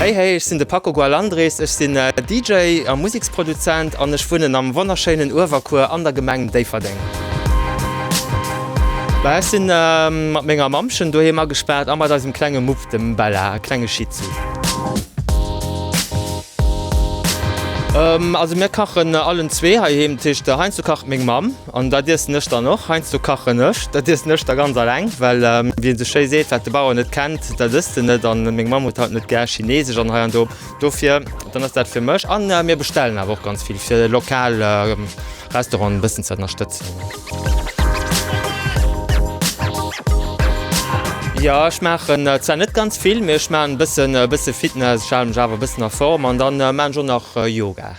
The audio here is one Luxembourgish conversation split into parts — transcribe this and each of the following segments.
Hey hey, ech sinn de Paco Gualandres, ech sinn DJ a Museksproduzent an ech wunnen am wonnerschéinen Uewerkuer an der Gemeng Déifferdeng. Bah, ech sinn mat menger Mammchen doheem agespaart a mat eisem klenge Mupp, dem Bella, e klenge Shih Tzu. Also mir kachen allen zwee heiheem, dat heescht heiansdo kacht meng Mamm. An dat iessen ech dann och. Heiansdo kachen ech. Dat iessen ech da ganz alleng, well wéi een esou schéi seet, Wat de Bauer net kennt, dat ësst en net. An meng Mamm huet halt net gär Chineesesch an hei an do. Dofir dann ass dat fir mech. An mir bestellen awer och ganz vill, fir de lokale Restaurant e bëssen ze ënnerstëtzen. Jo, ech maachen zwar net ganz vill, mee ech maachen e bëssen Fitness. Ech hale mech awer e bëssen a Form. An dann maachen ech och nach Yoga.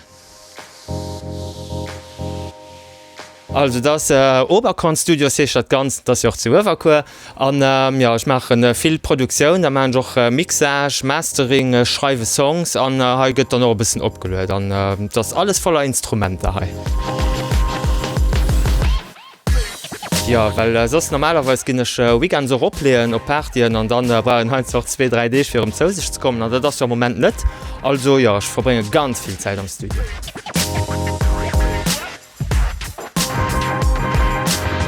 Also et ass Oberkorn Studios heescht dat Ganzt, et ass jo och zu Uewerkuer. An jo, ech maachen vill Produktioun, da maachen ech och Mixage, Mastering, ech schreiwe Songs an hei gëtt dann och e bëssen opgeluet an et ass alles voller Instrumenter hei. Jo, well soss normalerweis ginn ech weekends och opleeën op Partyen an da brauch een heinsdo zwee, dräi Deeg fir erëm zou sech ze kommen an dat ass jo am Moment net. Also jo, ech verbrénge ganz vill Zäit am Studio.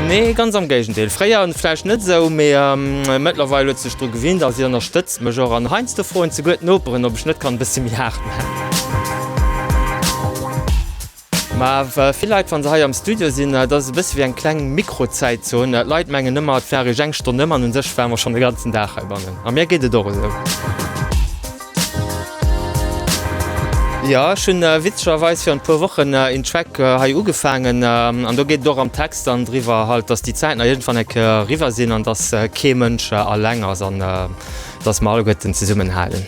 Nee, ganz am Géigendeel. Fréier vläicht net esou, mee mëttlerweil huet sech dru gewinnt a si ënnerstëtzt mech och. An heiansdo froen souguer d'Noperen, ob ech net kann e bësse méi haart maachen. Mä vill Leit, wa se hei am Studio sinn, et ass e bësse wéi eng kleng Mikro-Zäitzon. D'Leit mengen ëmmer, et wär eréischt eng Stonn ëm, an u sech ware mer schonn de ganzen Dag heibannen. A mir geet et och esou. Jo, ech hunn witzegerweis virun e puer Wochen een Track hei ugefaangen, an do geet et och am Text dann driwwer halt, dass déi Zäiten iergendwann eng Kéier eriwwer sinn an dass kee Mënsch alleng ass. Dass mer alleguerten zesummenhalen.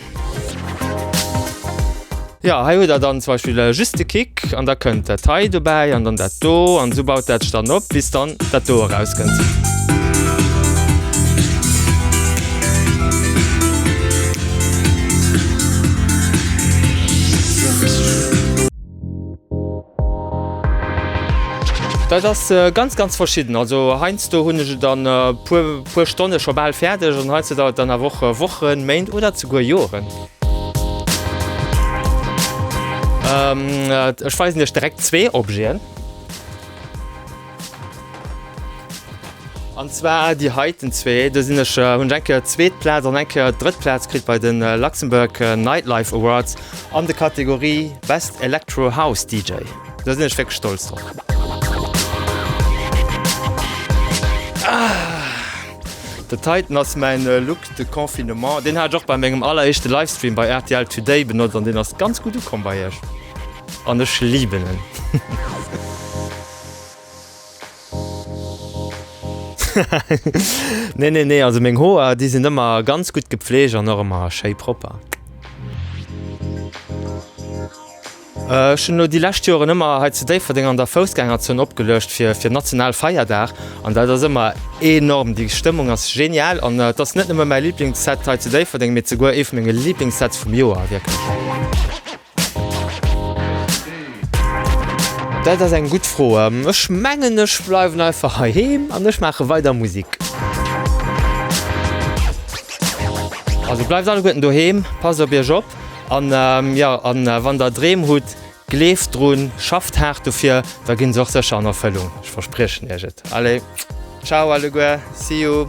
Jo, hei hutt der dann zum Beispill just de Kick, an da kënnt dat hei dobäi an dann dat do, an esou baut dat sech dann op, bis dann dat do erauskënnt. Dat ass ganz ganz verschidden. Also heiansdo hunn ech et an e puer Stonne scho bal fäerdeg an heiansdo dauert et dann awer och Wochen, Méint oder esouguer Joren. Ech weisen Iech direkt zwee Objeten. An zwar déi heiten zwee. Do sinn ech, hunn ech eng Kéier zweet Plaz an eng Kéier drëtt Plaz kritt bei de Luxembourg Nightlife Awards an de Kategorie Best Electro House DJ. Do sinn ech wierklech stolz drop. Dat heiten ass mäin Look de Confinement. Deen hat ech och bei mengem alleréischte Livestream bei rtl Today benotzt an deen ass ganz gutt ukomm bei iech. An ech liben en. Nee, nee, nee, also meng Hoer, déi sinn ëmmer ganz gutt gepfleegt an och ëmmer schéi propper. Ech hunn elo déi lescht Joren ëmmer hei zu Déifferdeng an der Foussgängerzon opgeluecht fir fir Nationalfeierdag an dat ass ëmmer enorm. Déi Stëmmung ass genial an et ass net nëmme mäi Liblingsset hei zu Déifferdeng, mee souguer ee vu menge Liblingssetz vum Joer, wierklech. Dat ass eng gutt Fro. Ech mengen ech bleiwen einfach heiheem an ech maache weider Musik. Also bleift alleguerten doheem, passt op iech op an jo an wann der Dreem hutt, gleeft drun, schafft haart dofir, da ginn se och sécher an Erfëllung, ech verspriechen iech et. Allez, ciao alleguer, see you.